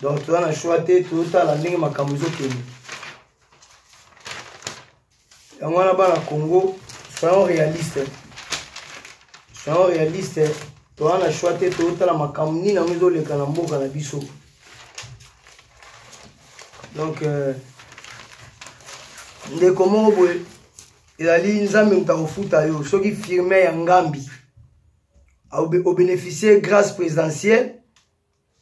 donc toza na choix te totala ndenge makambo ezokende yango wana bana congo soyons réaliste soyons réaliste toza na choix te totala makambo nini yango ezoleka na mboka na biso donc euh, ndeko moko boye ezali nzambe moto akofuta yo soki firme ya ngambi obeneficie grâce présidentielle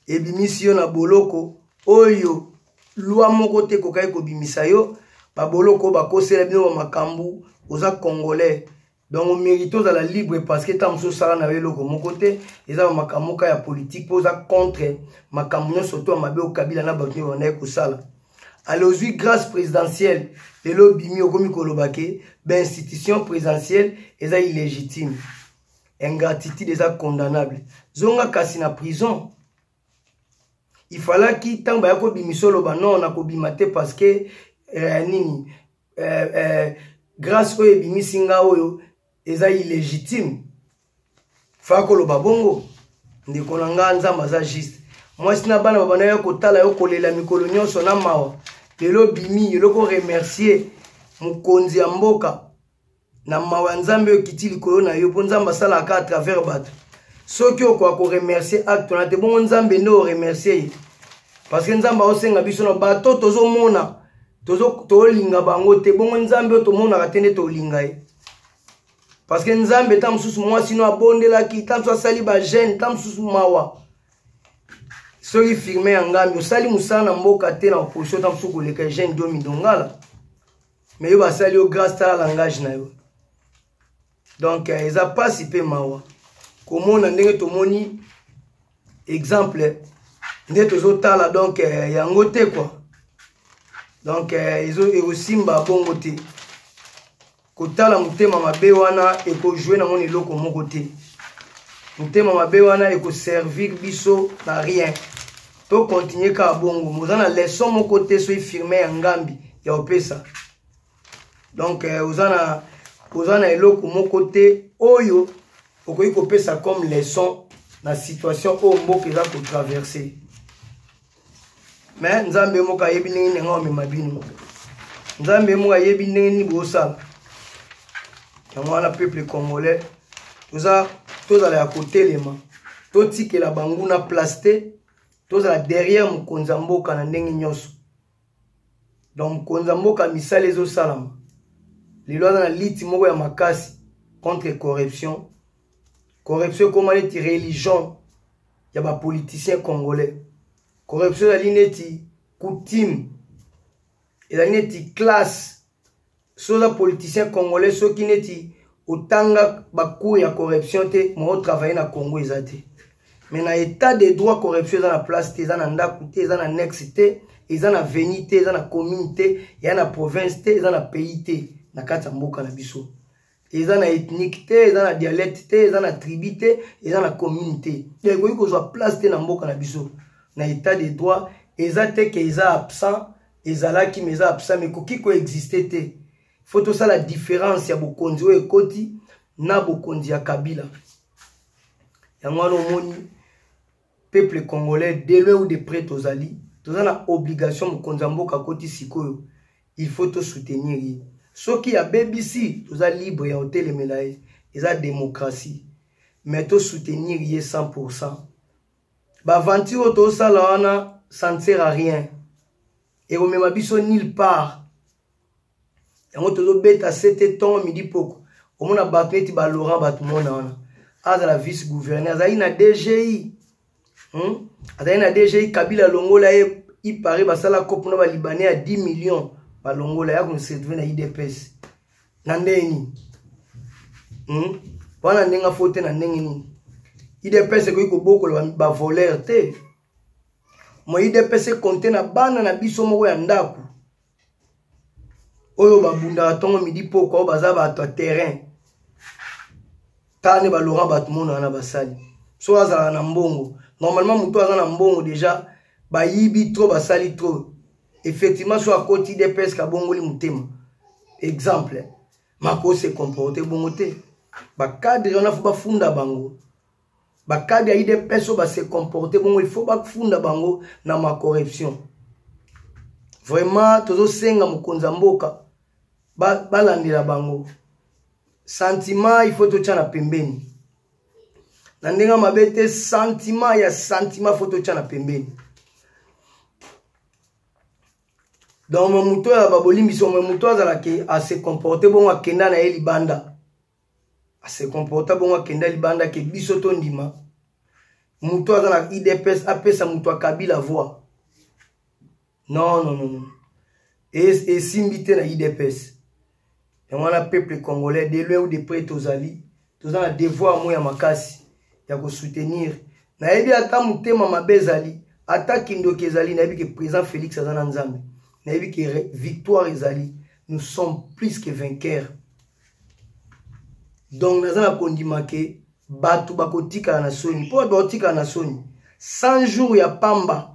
ebimisi yo na boloko oyo lwa moko te ekokaki kobimisa yo baboloko bakosela bino ba makambo oza congolais donc omérite ozala libre parce que ntango mosusu osala na yo eloko moko te eza ba makambo moka ya politike mpo oza contre makambo nyonso to ya mabe okabila na bato nyonso bandaki kosala ale ozwi grâce présidentielle lelo obimi okomi koloba ke bainstitution présidentielle eza illégitime ingratitude eza condamnable zonga kasi na prison ifalaki ntango baya kobimisa oloba non nakobima te parce que eh, nini eh, eh, grâce oyo ebimisi nga oyo eza illégitime fako loba bongo ndeko na nga nzambe aza juste mwasi na bana babanda ya kotala yo kolela mikolo nyonso na mawa lelo bimi eloko remercier mokonzi ya mboka na mawa ya nzambe oyo ekiti likolo na yo mpo nzambe asalaka a travers bato soki okoka koremercier acte wana te bongo nzambe nde oremercier ye parce que nzambe aosenga biso na bato tozomona tozolinga bango te bongo nzambe oyo tomonaka te nde tolinga ye parce que nzambe ntango mosusu mwasi no abondelaki ntango mosusu asali bagene ntango mosusu mawa soki firme ya ngambi osali mosala na mboka te na opposition ntango mosusu koleka eugene domi dongala mais yo basali yo grace tala langage na yo donc euh, eza mpasi mpe mawa komona ndenge tomoni exemple nde tozotala donc euh, yango te kua donc euh, ekosimba bongo te kotala motema mabe wana ekojue na moni eloko moko te motema mabe wana ekoservir biso na rien tokontinue kaka bongo moza na leson moko te soki firme ya ngambi ya opesa donc eh, oza na oza na eloko moko te oyo okoki kopesa comme leson na situation oyo mboka eza kotraverse me nzambe moko ayebi ndenge nini yango amema bino nzambe moko ayebi ndenge nini bosala yango wana peuple congolais toza tozala ya kotelema totikela banguna place te tozala derrière mokonzi ya mboka na ndenge nyonso donc mokonzi ya mboka misala ezosalama lelo aza na liti moko ya makasi contre corruption corruption ekoma neti religion ya ba politiciens congolais corruption ezali neti coutume ezali neti classe soki oza politicien congolais soki neti otanga bacour ya corruption te mwa otravaille na congo eza te mais na état de droit corruption eza na place te eza na ndako te eza na nexe te eza na veni te eza na commune te eza na province te eza na pays te na kati ya mboka na biso eza na ethnique te eza na dialecte te eza na tribu te eza na commune te donc ekoki kozwa place te na mboka na biso na état de droit eza te ke eza absent ezalaki ma eza absent ma ekoki koexiste te fo tosala différence ya bokonzi oyo ekoti na bokonzi ya kabila yango wana omoni peuple congolais de loin ou de près tozali toza na obligation mokonzi ya mboka akoti sikoyo il faut tosoutenir ye soki abebisi toza libre ya kotelemela ye eza démocratie mais tosoutenir ye 100 pourcent baventure oyo tosala wana ça ne sert à rien ekomema biso nulle part yango tozobeta sete ntongo midi poko omona bato neti balaurent bato mona wana azala vice gouverneur azali na dgi hmm? azali na dgi kabila alongola ye ipare basala cope na balibanais ya 10 million balongola ya konserve na idps na ndenge nini hmm? wana ndenge afo te na ndenge nini idps ekoki kobokola bavoleur te mo idps ekonte na bana na biso moko ya ndako oyo babundaka ntongo midi pokwa oyo baza bato ya terrain tala nde balora bato mono wana basali so azalaka na mbongo normalement moto aza na mbongo deja bayibi trop basali trop effectivement so akoti dps kabongoli motema exemple makoki se comporte bongo te bacadre wana fo bafunda bango bakadi ya idps oyo base comporte bongo il faut bafunda bango na macorruption vraiment tozosenga mokonzi ya mboka balandela ba bango sentiment il faut totya na pembeni na ndenge mabe te sentiment ya sentiment il faut totya na pembeni donc moto oyo ya babolimbisi oyo moto azala ke ase comporte bongo akenda na ye libanda ase comporta bongo akenda libanda ke biso tondima moto aza na idps apesa moto ya kabila voi non non non esimbi te na idps yango wana peuple congolais de loin ou de près tozali toza na devoir mo ya makasi ya kosoutenir nayebi ata motema mabe ezali ata kindoki ezali nayebi ke président félix aza na nzambe nayebi ke victoire ezali nous sommes plus que vainqueurs donc naza na kondima ke bato bakotikala na soni mpo bato bakotikala na soni 100 jours ya pamba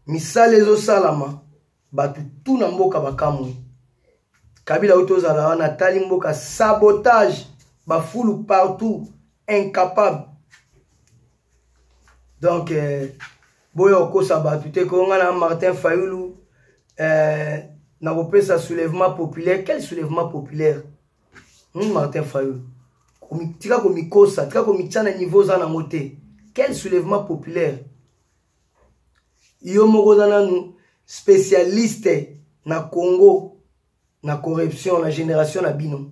misala ezosalama bato tu na mboka bakamwi kabila oyo tozala wana atali mboka sabotage bafulu partout incapable donc euh, boya okosa bato te ko nga na martin fayulu euh, nakopesa soulèvement populaire quel soulèvement populaire hmm, martin fayulu tika komikosa tika komitya na niveau oza nango te quel soulèvement populaire yo moko oza nanu spécialiste na congo na corruption na génération na bino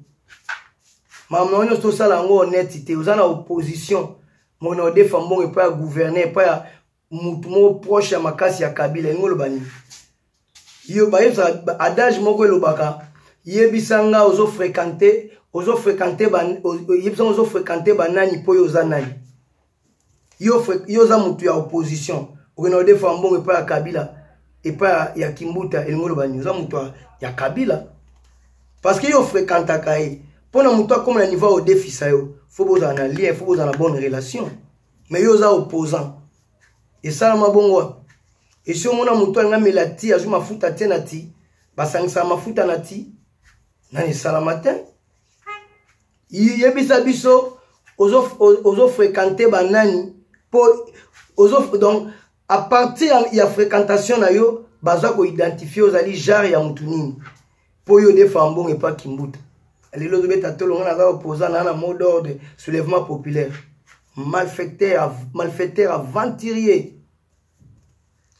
makambo nyonso tosala yango honnête te oza na opposition mona odefa mbongo epai ya gouverneur epai ya motu moko proche ya makasi ya kabila elingi oloba nini yo bayebisa adage moko elobaka yebisa nga ozo fréquente ozo fréquente yebisa nga ozo fréquente banani mpo yo oza nani yo, yo oza motu ya opposition okenda odefa mbongo epai ya kabila epai ya kimbuta elingi oloba nini oza motu ya kabila parce que yo ofrekantaka ye mpo na motu akoma na niveau odefisa yo fo bozala na lien fo bozala na bonne relation mais yo oza opposant esalama bongo wapi esi omona motu alinga mela ti azwi mafuta te na ti basangisaka mafuta na ti nani esalama te yebisa biso ozo, ozo fréquente banani po ozo donc à partir ya, ya fréquentation na yo baza koidentifie ozali genre ya motu nini mpo yo odefa mbongo epa kimbuta lelo ozobeta tolo ngai naza opoza naa na mot d'ordre soulèvement populaire malfecteur malfecteur aventurier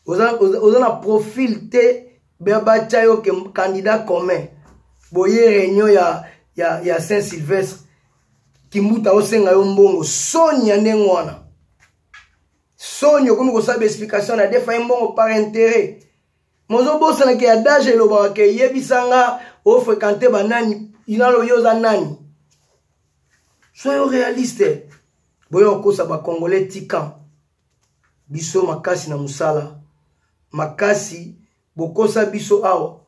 oza, oza, oza na profil te batya yo ke candidat commun boye réunion ya, ya, ya saint sylvestre kimbuta osenga yo mbongo soni ya ndenge wana soni okomi kosala baexplication na defa ye mbongo par intérêt mozobosana ke ya dage elobaka ke yebisa nga ofrekante banani inalo yo oza nani soyo realiste boyo okosa bacongolais tikan biso makasi na mosala makasi bokosa biso awa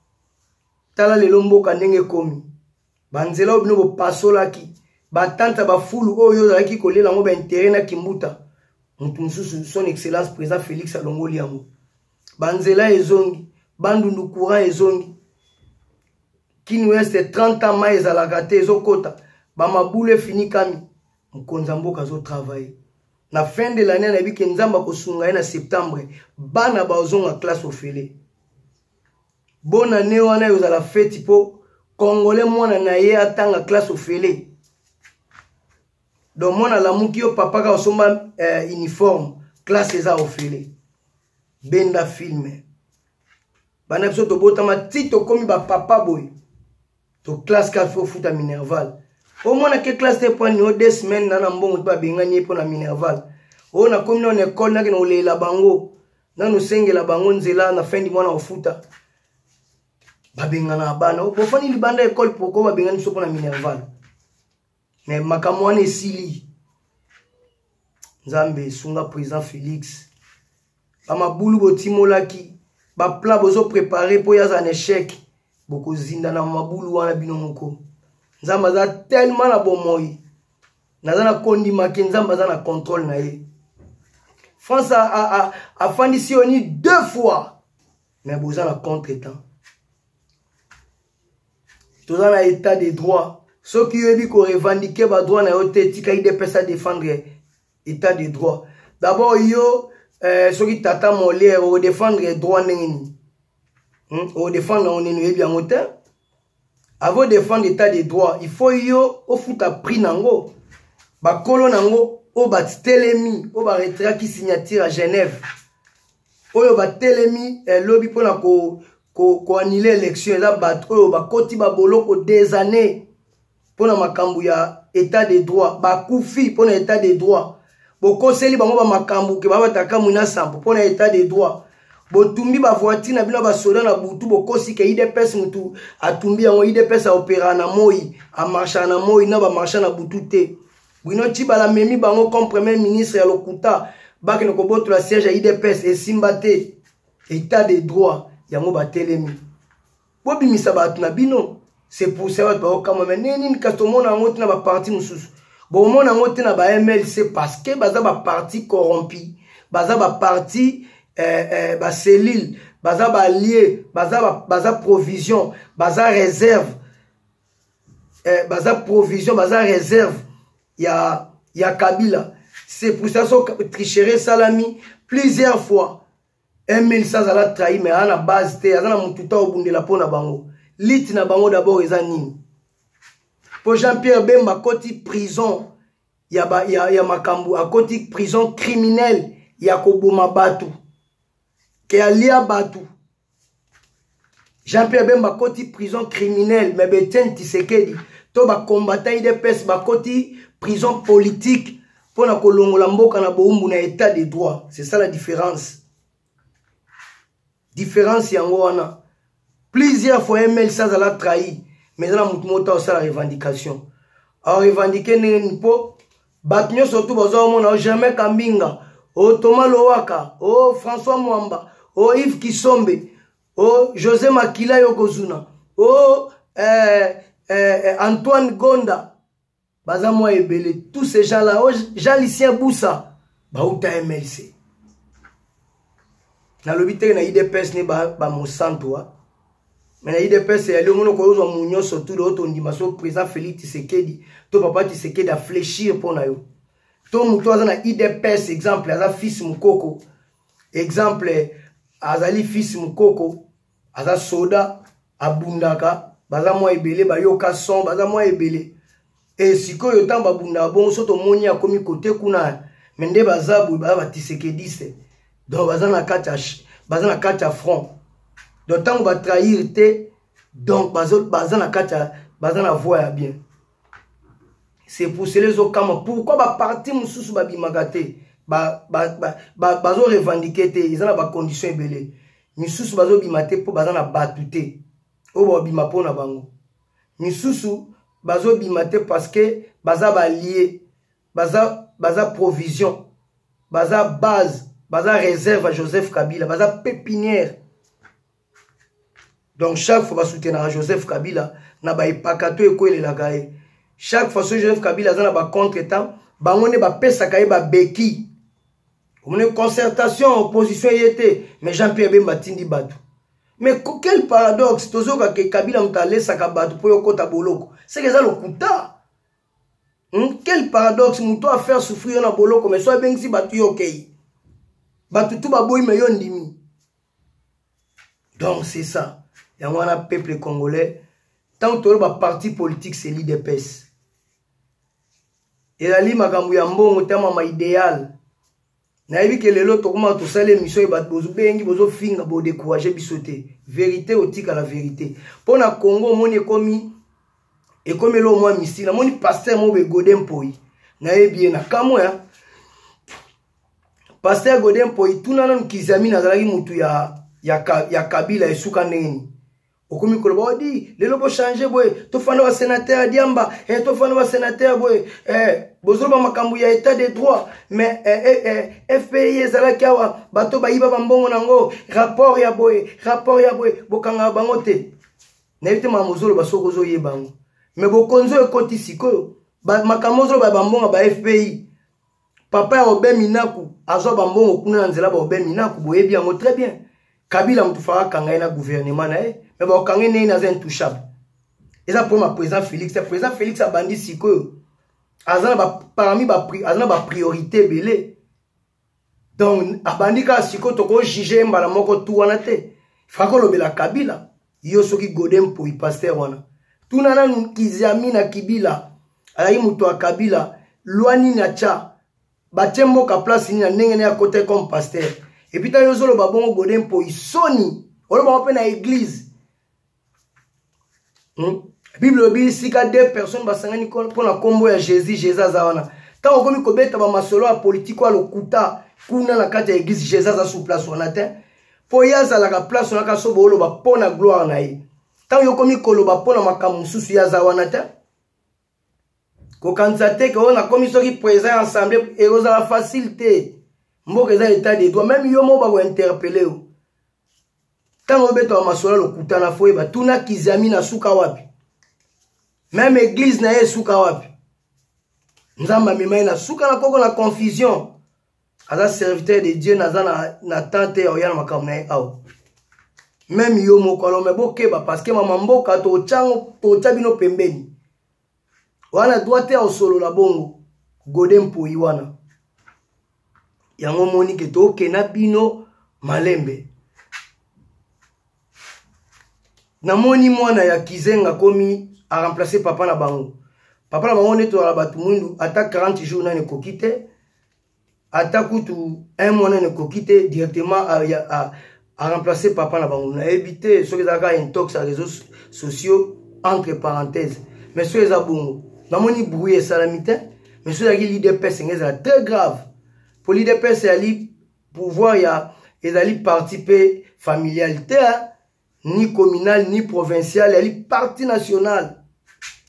tala lelo mboka ndenge ekomi banzela oyo bino bopasolaki batante ya bafulu oyo ozalaki kolela yango baintere na kimbuta moto mosusu son excellence président félix alongoli yango banzela ezongi bandundu courant ezongi kini weste 30 ans mai ezalaka te ezokota bamabulu efinikami mokonzi ya mboka azotravaille na fin de l'année anayebi ke nzambe akosunga ye na septembre bana baozonga classe ofele bona ne wana ekozala feti mpo congolais mwana na ye atanga classe ofele donc mwana alamuki yo papa kaka osomba eh, uniforme classe eza ofele benda filme bana biso tobotama ti tokomi bapapa boye to classe ka fo futa minerval omona ke classe te mpo anio de semaine na na mbongo mpe babengani ye mpo na minerval oyo nakomi nao na ekole nake na kolelela bango nanu osengela bango nzela na fin du mwana ofuta babengana bana bofani libanda ekole poko babengani biso mpo na minerval me makambo wana esili nzambe esunga président félix bamabulu botimolaki baplan bozoprépare mpo yaza na échec bokozinda na mabulu wana bino moko nzambe aza tellement na bomoi naza na kondima ke nzambe aza na contrôle na ye france afandisi yo ni deux fois mais boza na contre temps toza na état de droit soki oyebi korevandike badroit na yo te tika idps adefendre état de droit d'abord yo eh, soki tata moliere odefendre droit ndenge nini hmm? odefendre yango nini oyebi yango te avant defendre état de droit il faut yo ofuta prix na yango bakolo na yango oyo batitelemi oyo baretiraki signature ya genève oyo batelemi eh, lobi mpo na koanile ko, ko élection eza bato oyo bakoti baboloko des années mpo na makambo ya état de droit bakufi mpo na état de droit bokoseli bango bamakambo ke babataka mwina sambo mpo na état de droit botumbi bavoitire na bino basoda na butu bokosi ke idps motu atumbi yango idps aopera na moi amarshaka na moi na bamarshaka na butu te Bruno Tshibala memi bango comme premier ministre ya lokuta bakende kobotola siège ya idps esimba te état de droit yango batelemi bobimisa bato na bino c'est pour ça bato bakokamwa me ndenge nini kasi tomona yango te na baparti mosusu bomona yango te na bamlc parce que baza baparti corrompi baza baparti eh, eh, bacellule baza balie baza, baza provision baza réserve eh, baza provision baza réserve ya, ya kabila c'est pour ça so tricherie esalami plusieurs fois emil sa azala trahi mais aza na base te aza na motu ta obundela mpo na bango lite na bango d'abord eza nini mpo jean pierre bemba akoti prison ya, ba, ya, ya makambo akoti prison criminelle ya koboma bato ke alia bato Jean-Pierre Bemba koti prison criminelle mais Etienne Tshisekedi to ba combattant IDPS bakoti prison politique pona kolongola mboka na boumbu na état de droit c'est ça la différence différence yango wana plusieurs fois ml ça azala trahi mais eza na motu moko ta osala revendication arevendique ndenge nini mpo bato nyonso tu baza omona o germain kambinga o thomas lowaka o françois mwamba o yves kisombe o josé makila yokozuna o eh, eh, eh, antoine gonda baza mwa ebele tous ces gens là o jalicien busa bauta mlc nalobi teke na idps ne bamosantu ba me na idps eyali omoni okoki ozwa mu nyonso tude oyo tondima so président félix tisekedi to papa tisekedi afléchir mpo na yo to moto aza na idps exemple aza fils mokoko exemple azali fils mokoko aza soda abundaka baza mwa ebele bayoka son baza mwa ebele e sikoyo ntango babundaka bongo so tomoni akomi kote kuna me nde baza boye baza batisekediste donc baza na kati ya baza na kati ya front donc ntango batrahir te donc baza na kati ya baza na voie ya bien c'est pour cela ezokamwa pourquoi baparti mosusu babimaka te bazorevendike te eza na bacondition ebele misusu bazobima te mpo baza na bato te oyo babima mpo na bango misusu bazobima te parce que baza balie baza, baza provision baza base baza réserve ya joseph kabila baza pépinière donc chaque fois basoutenaka joseph kabila na baepaka to ekwelelaka ye chaque fois soki joseph kabila aza na bacontre temps bango nde bapesaka ye babeki omoni concertation opposition ye te mais jean pierre bemba atindi bato mais quel paradoxe tozoyoka ke kabila moto alesaka bato mpo yokota boloko seke eza lokuta hmm? quel paradoxe moto afaire souffrir yo na boloko mais so abengisi bato yo okei bato tu baboyi me yo ndimi donc c'est ça yango wana peuple congolais ntango toloba parti politique c'est l'idps ezali makambo ya mbongo ntama ma idéal nayebi ke lelo tokomaka tosali émission ye bato bozobengi bozofinga bodecourage biso te verité otikala verité mpo na congo omoni ekomi ekomi elo mwa misili namoni paster moko begode mpoi nayebi ye na kamwe paster gode mpoi tuna nanu kizamini azalaki motu ya, ya, ya kabila esuka ndenge nini okomi koloba odi oh, lelo bochange boye tofanda basenatere ya diamba eh, tofanda basenatere boye eh, bozoloba makambo ya état de droit mais eh, eh, eh, eh fpi ezalaki awa bato bayiba bambongo na yango rapport ya boye rapport ya boye bokangaka bango te nayebi te makambo ozoloba soki ozoyeba yango mais bokonzi oyo ekoti sikoyo makambo ozoloba ya bambongo ba fpi papa ya obe minaku azwa bambongo kuna na nzela baobe minaku boyebi yango très bien kabila moto faka akanga ye na gouvernement na ye me bakokanga ye ndenge naza intouchable eza problème ya président félix te président félix abandi sikoyo aza na ba, parmi ba, aza na bapriorité ebele donc abandi kaka sikoyo tokojuge ye mbala moko tu wana te faka olobela kabila yo soki gode mpoi paster wana tuna nanu kiziami na kibila azalaki moto ya kabila lwa nini atya batye mboka place nini na ndenge ne akota comme paster epuis ntango ozoloba bongo gode mpoi soni olobaka mpe na eglize hmm? bible elobi esika de personnes basangani mpo na nkombo ya jésus jésus aza wana ntango okomi kobeta bamasolo ya politike ya lokuta kuna na kati ya eglize jésus aza sous place wana te mpo ye azalaka place wana kaka so booloba mpo na gloire na ye ntango yo okomi koloba mpo na makambo mosusu ye aza wana te kokanisa te ke oyo nakomi soki président ya assemblée ekozala facile te mboka eza etat de droit meme yo moko bakointerpele yo ntango obetaka masolo ya lokuta na fo yeba tuna kizami na suka wapi meme eglize na ye esuka wapi nzambe amema ye na suka na koko na confusion aza serviteur de dieu naza na, na temps te ya oya na makambo na ye awa meme yo moko alo me bokeba parceke mama mboka totya bino pembeni wana droit te ya osolola bongo gode mpoi wana yango omoni ke tokena bino malembe namoni mwana ya kizenga komi aremplace papa na bango papa na bango nde tozala bato mwindu ata 40 jour nani ekoki te ata kutu un mois nene ekoki te directement a, a, a, a remplacer papa na bango nayebi te soki ezalaka intox ya réseaux sociaux entre parenthèse mais soki eza bongo namoni bruit esalami te mais soki ezalaki lidps enge ezala très grave mpo lidps ezali pouvoir ya ezali parti mpe familial te ni communal ni provincial yali parti national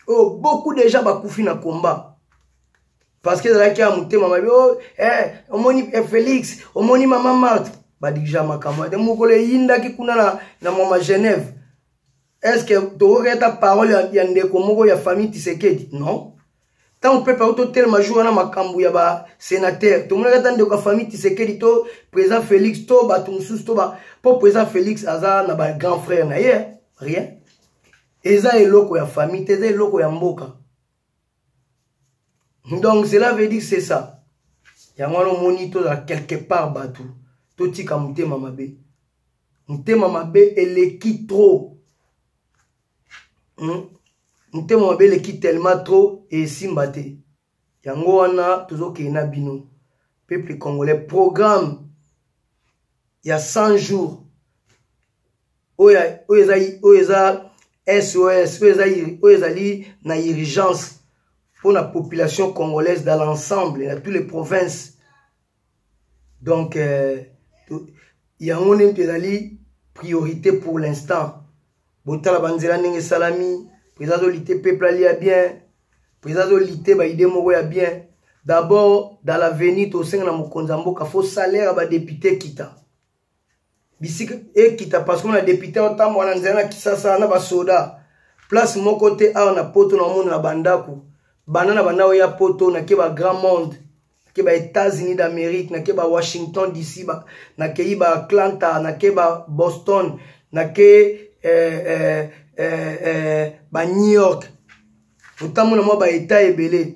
oyo oh, beaucoup déjà bakufi na combat parce que ezalaki ya motema mabe oh, eh, omoni eh, félix omoni mama marte badirija makambo te mokolo eyindaki kuna na, na mama genève est ce que tokoketa parole ya, ya ndeko moko ya famille tisekedi non ntango pepe auti otelema jour wana makambo ya basenatere tomonaki ata ndeko ya famille tisekedi to président félix to bato mosusu to ba mpo président félix aza na bagrand frère na ye rien eza eloko ya famille te eza eloko ya mboka donc cela veut dire c'est ça yango wana omoni tozala quelque part bato totika motema mabe motema mabe eleki trop hmm? motema mabe eleki tellement trop esimba te yango wana tozokende na bino peuple congolais programme ya 100 jours oyo eza oyo eza sos oyo eza oyo ezali na urgence mpo na population congolaise dans l'ensemble na toutes les provinces donc euh, yango nde mpe ezali priorité pour l'instant botala banzela ndenge esalami président azolite peuple alia bien président azolite baide moko ya bien d'abord dans l'avenir tosenga na mokonzi ya mboka fo salaire ya badepute ekita bisika ekita parce que na depute otambo wana nzela na kisasa na basoda place moko te awa na poto na omona na bandako banda na banda oya poto nake ba grand monde nake ba états-unis d'amérique nake ba washington dc ba, nakei ba atlanta nake ba boston nake eh, eh, eh, eh, ba new york otambo na mwa ba etat ebele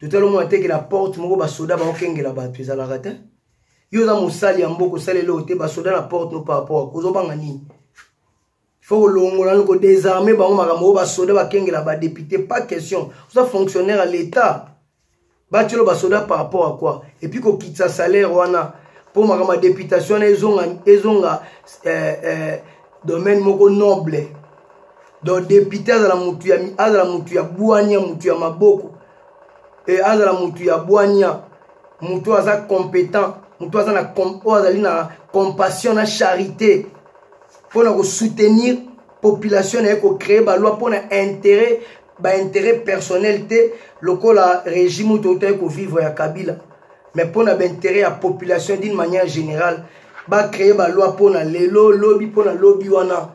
totali omona teke na porte moko basoda baokengela bato ezalaka te yo oza mosali ya mboka osali eloko te basoda na porte no par rapport a kozobanga nini faut kolongola ni kodesarme bango makambo oyo basoda bakengela badepute pas question oza fonctionnaire ya l'état batyelo basoda par rapport à quoi epuis kokitisa salaire wana mpo makambo ya deputation wana ezonga, ezonga eh, eh, domaine moko noble donc depute azala mutu ya azala mutu ya bwania mutu ya maboko e azala mutu ya bwania mutu oyo aza competent mutu aza na oyo azali na compassion na charité mpo na kosoutenir population na ye kocree baloi mpo na intérêt baintérêt personnel te lokola régime oyo toutaki kovivre ya kabila mais mpo na baintérêt ya population d'une manière générale bacree baloi mpo na lelo lobi mpo na lobi wana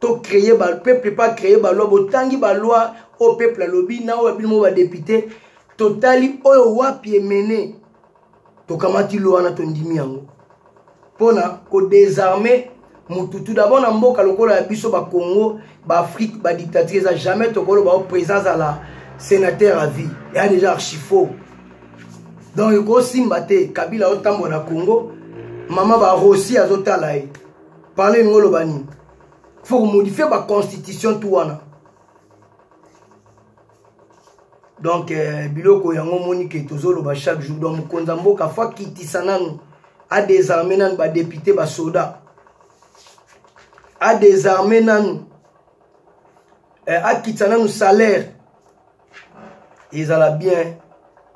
to créer ba peuple pas créer ba loi botangi ba loi au peuple alobi na oyo bino ba député totali oyo wapi emene tokamati loi na tondimi yango pona ko désarmer mutu tout d'abord na mboka lokola ya biso ba Congo ba Afrique ba dictature eza jamais tokolo ba présence à la sénateur à vie ya déjà archi faux donc ekosimba te kabila otambola na Congo mama ba Rossi azotala ye parle lingo oloba nini faut komodifie baconstitution tu wana donc eh, biloko yango omoni ke tozoloba chaque jour donc mokonzi ya mboka fo akitisa nanu adesarme nanu badepute basoda adesarme nanu eh, akitisa nanu salaire ezala bien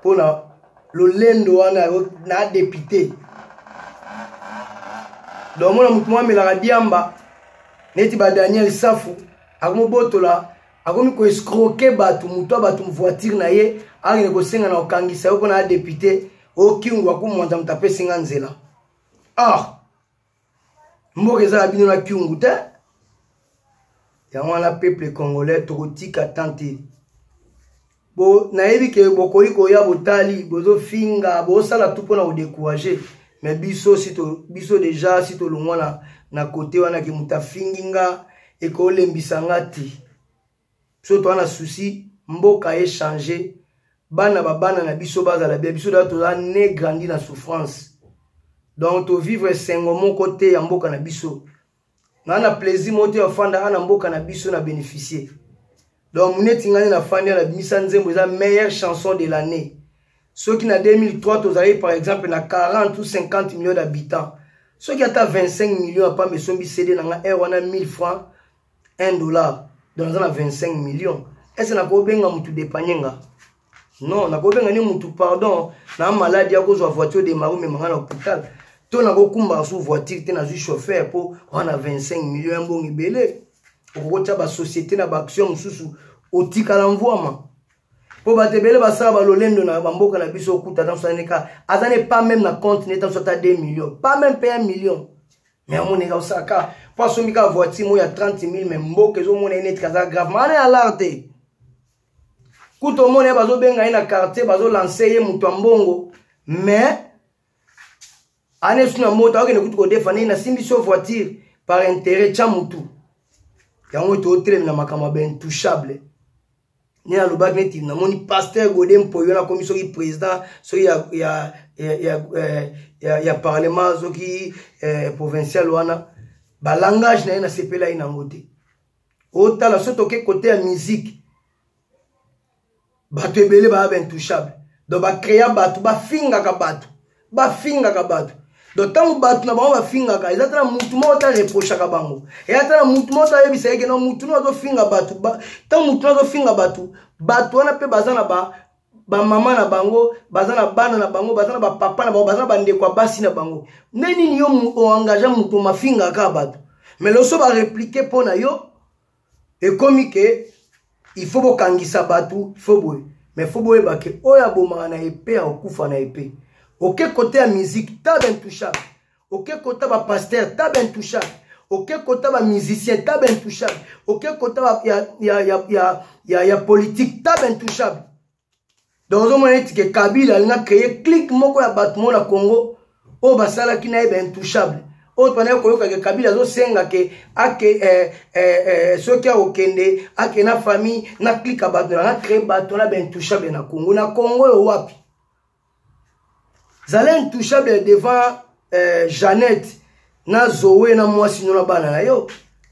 mpo na lolendo wana na depute donc omona motu mwa amelaka diamba neti ba daniel safu akomobotola akomi koescroke bato motu ya bato voiture na ye akende kosenga na kokangisa yo mpo na ya depute oyo kingu akumwanza moto apesi nga nzela ah mboka eza ya bino na kyungu te yango wana peuple congolais tokotika tan te bo nayebi ke bokoki koya botali bozofinga bosala tu mpo na kodecourage me biso si to, biso deja si tolongwa na, na kote wana ke moto afingi nga ekolembisa nga te biso toza na souci mboka echange bana babana na biso bazala bia biso daa toza ne grandi na souffrance donc tovivre esengo moko te ya mboka na biso na na plaisir moko te ofanda ana mboka na biso na bénéficier donc neti ngai nafandi ana bimisa nzembo eza meilleure chanson de l'année soki na 2003 tozalaki par exemple na 40 ou 50 millions d'habitants soki ata 25 millions apamba esombi cd na ngai heure wana 1000 francs 1 dollar donc naza na 25 millions ese nakobenga motu depanye nga non nakobenga ni motu pardon na maladi akozwa voiture de mari omema nga na hôpital to nakokumbaka su voiture te nazwi chauffeur mpo wana 25 million ya mbongo ebele okokotya basociété na baaction mosusu otikala mvwama mpo bato ebele basala balolendo na bamboka na biso okuta tanso aneka aza ne pas meme na compte ne tanso ata 2 million pas meme mpe 1 million me amoneka osala ka mpo asombi kaka voiture moko ya 30 000 me mboka ezomona ye neti kaza grave maana ya lar te kutu omona ye bazobenga ye na quartier bazolanse ye moto ya mbongo me ana esu na moto akokende kutu kodefana ye nasimbi so voiture par intérêt tya motu yango totelemi na makambo ya baintouchable nde nalobaki neti namoni pasteur gode mpoyo nakomi soki président soki ya, ya, ya, ya, eh, ya, ya parlement soki eh, provincial wana balangage na ye nasepela ye nango te otala so toke kote ya musique bato ebele baya baintouchable donc bacrea bato bafingaka bato bafingaka bato donc ntango bato na bango bafingaka eza tala mutu moko ta reprochaka bango eya tala mutu moko tayebisa yeke no mutu no azofinga bato ntango mutu no azofinga bato bato wana mpe baza na ba bamama na bango baza na bana na bango baza na bapapa na bango baza na bandeko ya basi na bango nde nini yo oengage moto mafingaka bato mais loso bareplike mpo na yo ekomi ke il faut bokangisa bato fo boye mais fo boyeba ke oyo abomaka na epe akokufa na epe oke kote ya musique tab intouchable oke kota bapaster tab intouchable oke kota bamusicien tab intouchable oke kota ya, ya, ya, ya, ya, ya politique tab intouchable donc ozomona neti ke kabila alinga créer clique moko ya bato moko na congo oyo basalaki na ye baintouchable oyo twanaki koyoka ke kabila azosenga ke ake eh, eh, eh, soki akokende ake na famille na clique ya bato nanga créer bato na baintouchable na congo na congo oyo wapi zala intouchable devant euh, jeannette na zoe na mwasi no na bana na yo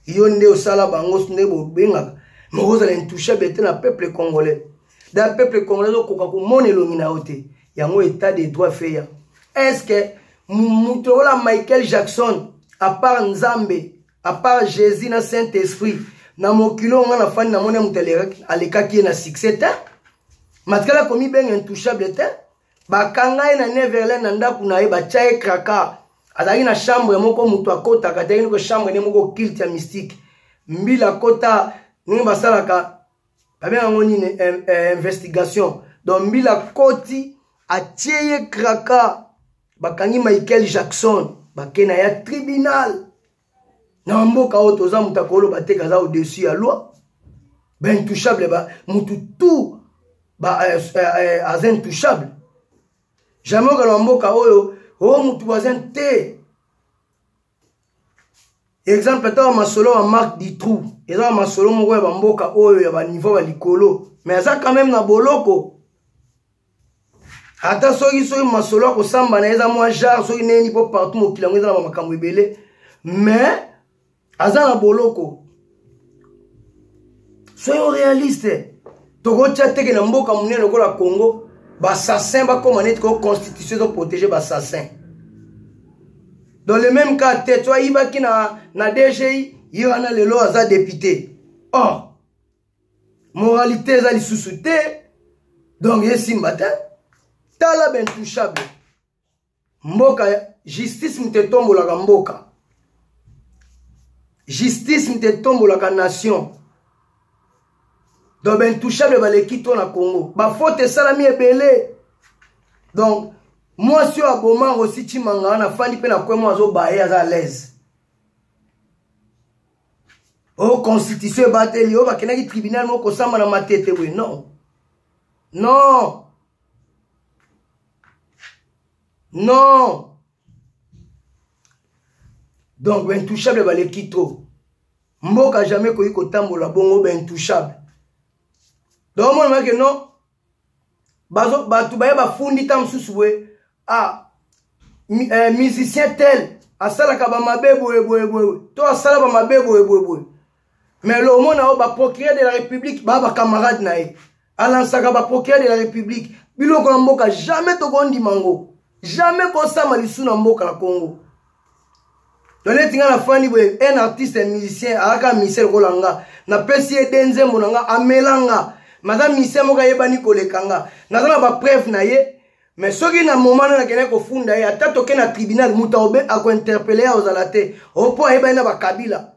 yo nde osala bango nde bobengaka moko ozala intouchable te na peuple congolais da peuple congolais okoka komona elongi na yo te yango état de droit feya est ce que moto lokola michael jackson apart nzambe apart jésus na saint esprit na mokili oyo ngai nafandi namoni moto alekaki ye na succès te matikala komibenga intouchable te bakanga ye na neverland na ndako na ye batya ye kraka azalaki na chambre moko moto akotaka azalaki noko chambre nde moko kilte ya mystique mbila akota ndenge basalaka babenga yango nini eh, eh, investigation donc mbila akoti atie ye kraka bakangi michael jackson bake na ya tribunal na mboka oyo toza moto akolo bateka aza au-dessus ya loi baintouchable ba, motu tout ba, euh, euh, aza intouchable jamais okala na mboka oyo o oh, motu baza te exemple ata wa masolo wa mark ditrou eza wa masolo moko ya bamboka oyo ya baniveau ya likolo mais aza quand même na boloko ata soki soki masolo ya kosamba na ye eza mwa jare soki neyeni mpo partout mokili yango eza na bamakambo ebele mais aza na boloko soyo realiste tokotya teke na mboka monene lokola congo bassassin bakóma neti ko constitution ezoprotege bassassin dans le même cas te to ayibaki na, na dgi ye wana lelo aza depute or oh. moralité eza lisusu te donc esimba te tala bintouchable mboka justice moto etombolaka mboka justice moto etombolaka nation donc baintouchable baleki to na congo bafote esalami ebele donc mwasi oyo aboma rosi cimanga wana afandi mpe na kwemo azobaye aza alaise o oh, constitution ebateli oyo oh, bakendaki tribunal moko kosamba na matete boye non non non donc baintouchable baleki trop mboka jamais ekoki kotambola bongo baintouchable donc omonamaki non bato baye bafundi ntango mosusu boye ah, eh, musicien tel asalaka bamabe boye boye boye to asala bamabe boye boye boye mais le omona oyo baprocureur de la république baa bacamarade na ye alansaka baprocureur de la république biloko ya mboka jamais tokondima ngo jamais kosama lisu na mboka ya congo to neti ngai nafandi boye un artiste ya musicien ayaka musicien lokola nga napesi ye de nzembo na nga amela nga maza musicien moko ayebani koleka nga naza na bapreuve na ye mais soki na moment na nakendaki kofunda ye ata toke na tribunal moto akointerpele ye akozala te opo ayebani na bakabila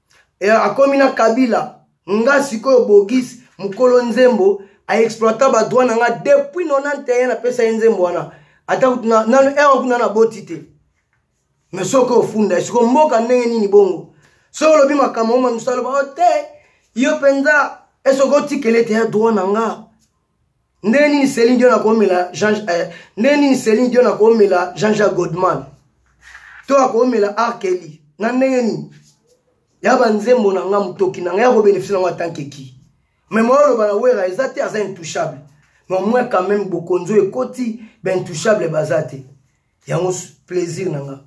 e, akomi na kabila nga sikoyo bogis mokolo nzembo aexploita badroit na nga depuis 91 napesa ye nzembo wana ata nano ewa kuna na boti te me soki ofunda esiko mboka ndenge nini bongo soki olobi makambo oma mosaloba o oh, te yo mpenza esoki otikele te ya droit na nga ndenge nini celine dion akomela jean eh, ndenge nini celine dion akomela jean jacques godman to akomela arkeli na ndenge nini ya banzembo na nga motoki na nga ya kobelefisi nango atanke ki me moya oloba na wera eza te aza intouchable me omoi quand même bokonzi oyo ekoti baintouchable baza te yango plaisir na nga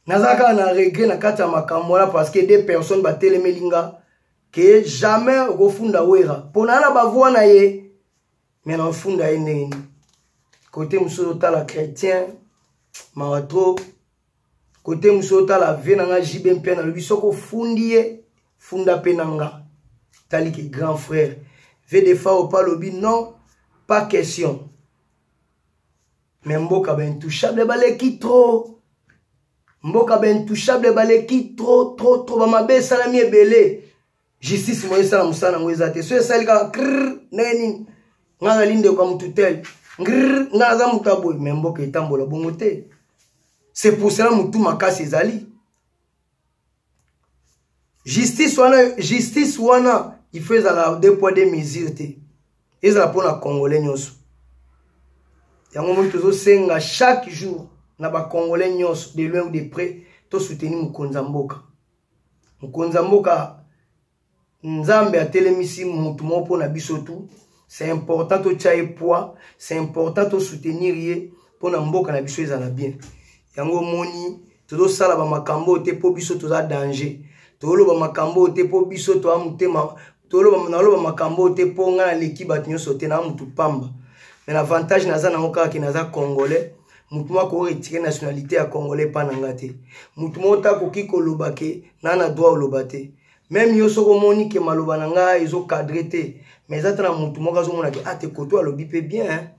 naza kaka na regret na kati ya makambo wana parce que des personnes batelemeli nga ke jamais okofunda wera mpo naa na bavoi na ye me nafunda ye ndenge nini kote mosusu otala chrétien mawa trop kote mosusu otala vie na nga jb mpe nalobi soki ofundi ye funda mpe na nga tali ke grand frère vdfa opa alobi non pas question me mboka baintouchable baleki trop mboka baintouchable baleki trop trop trop bamabe esalami ebele justice moye esala mosala yango eza te so esali kaka krr ndenge nini ngai azali ndeko ya motu tel ngrr ngai aza motu ya boye me mboka etambola bongo te c'est pour cela motu makasi ezali justice wana justice wana il faut ezala deux poids deux mesure te ezala mpo na congolais nyonso yango moni tozosenga chaque jour na bacongolais nyonso de loin ou de près tosoutenir mokonzi ya mboka mokonzi ya mboka nzambe atelemisi motu moko mpo na biso tu c'est important totya ye poids c'est important tosoutenir ye mpo na mboka na biso ezala bien yango omoni tozosala bamakambo oyo te mpo biso toza danger toloba makambo oyo te mpo biso toa motema naloba makambo oyo te mpo ngai naleki bato nyonso te naa motu pamba mais avantage naza nango kaka ke naza congolais motu moko akoretire nationalité ya congolais epa na ngai te motu moko te akoki koloba ke naa na droit oloba te meme yo soki omoni ke maloba na ngai ezokadre te mais eza ata na motu moko azomona ke ate ah, koto alobi mpe bien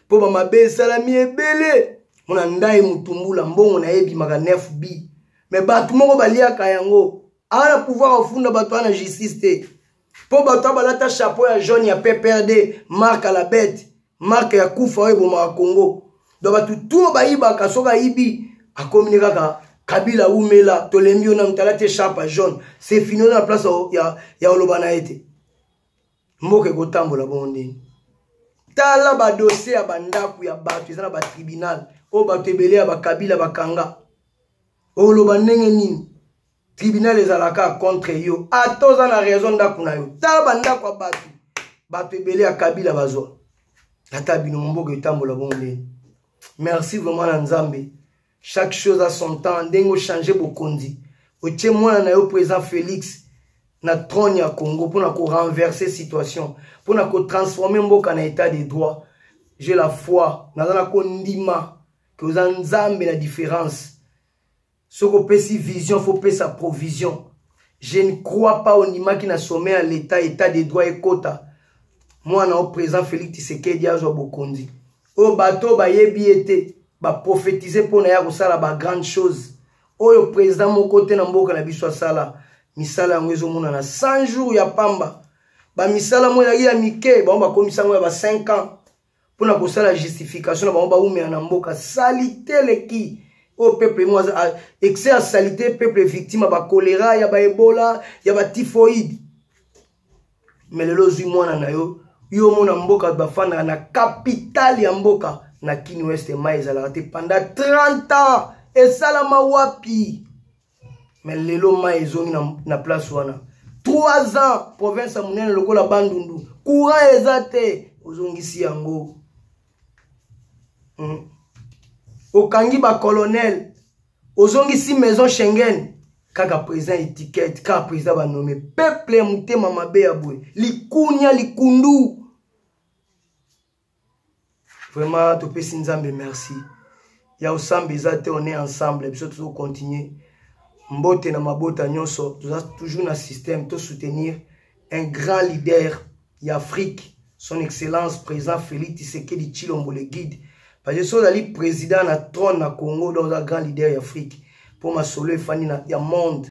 mpo bamabe esalami ebele mona ndai motumbula mbongo na ye ebimaka 9 bi me bato moko baliaka yango awa na pouvoir ofunda bato wana na justice te mpo bato abalata chapeau ya jaune ya pprd mark alabete marke ya kufa oyo ebomaka congo donc bato tuo bayibaka soki ayibi akomi ne kaka kabila wumela tolembi yo nanu tala te sharpa jaune se fini oza na place ya, ya oloba na ye te mboka ekotambola bongo ndeni tala badosie ya bandako ya bato eza na batribunal oyo bato ebele ya bakabila bakanga oloba ndenge nini tribunal ezalaka contre yo ata oza na raison ndako na yo tala bandako ya bato bato ebele ya kabila bazwa ata bino mboka etambola bongo ndeni merci vraiment na nzambe chaque chose a son temps ndenge ochange bokonzi otie mwana na yo président félix na trône ya congo mpo na korenverse situation mpo na kotransforme mboka na état de droit je la foi naza na kondima ke oza nzambe na différence soki opesi vision faut pesa provision je ne crois pas ondimaki na sommet ya l'état état de droit ekota mwana o président félix tisekedi azwa bokonzi oyo bato oyo bayebi ye te baprofetize mpo na ye akosala bagrande chose oyo président moko te na mboka na biso asala misala yango ezomonana 100 jours ya pamba bamisala mo ezalaki ya mike bango bakomisa yango ya ba 5 ans mpo na kosala justification na bango baumela na mboka salite eleki oyo peuple yango excès ya salite peuple victime ya bakolera ya baebola ya batifoide me lelo ozwi mwana na yo yo omona mboka bafandaka na kapitale ya mboka na kini weste mai ezalaka te pendant 30 ans esalama wapi me lelo mai ezongi na, na place wana 3 ans province ya monene lokola bandundu courant eza te ozongisi yango hmm. okangi bacolonel ozongisi maison schengen kaka président étiquette kaka président banome peuple ya motema mabe ya boye likunia likundu vraiment topesi nzambe merci ya osambe eza te on est ensemble biso tozo continuer mbote na mabota nyonso toza toujours na système to soutenir un grand leader ya afrique son excellence président félix tisekedi chilombo le guide parce que so ozali président na trône na congo donc oza grand leader ya afrique mpo masolo efandi ya monde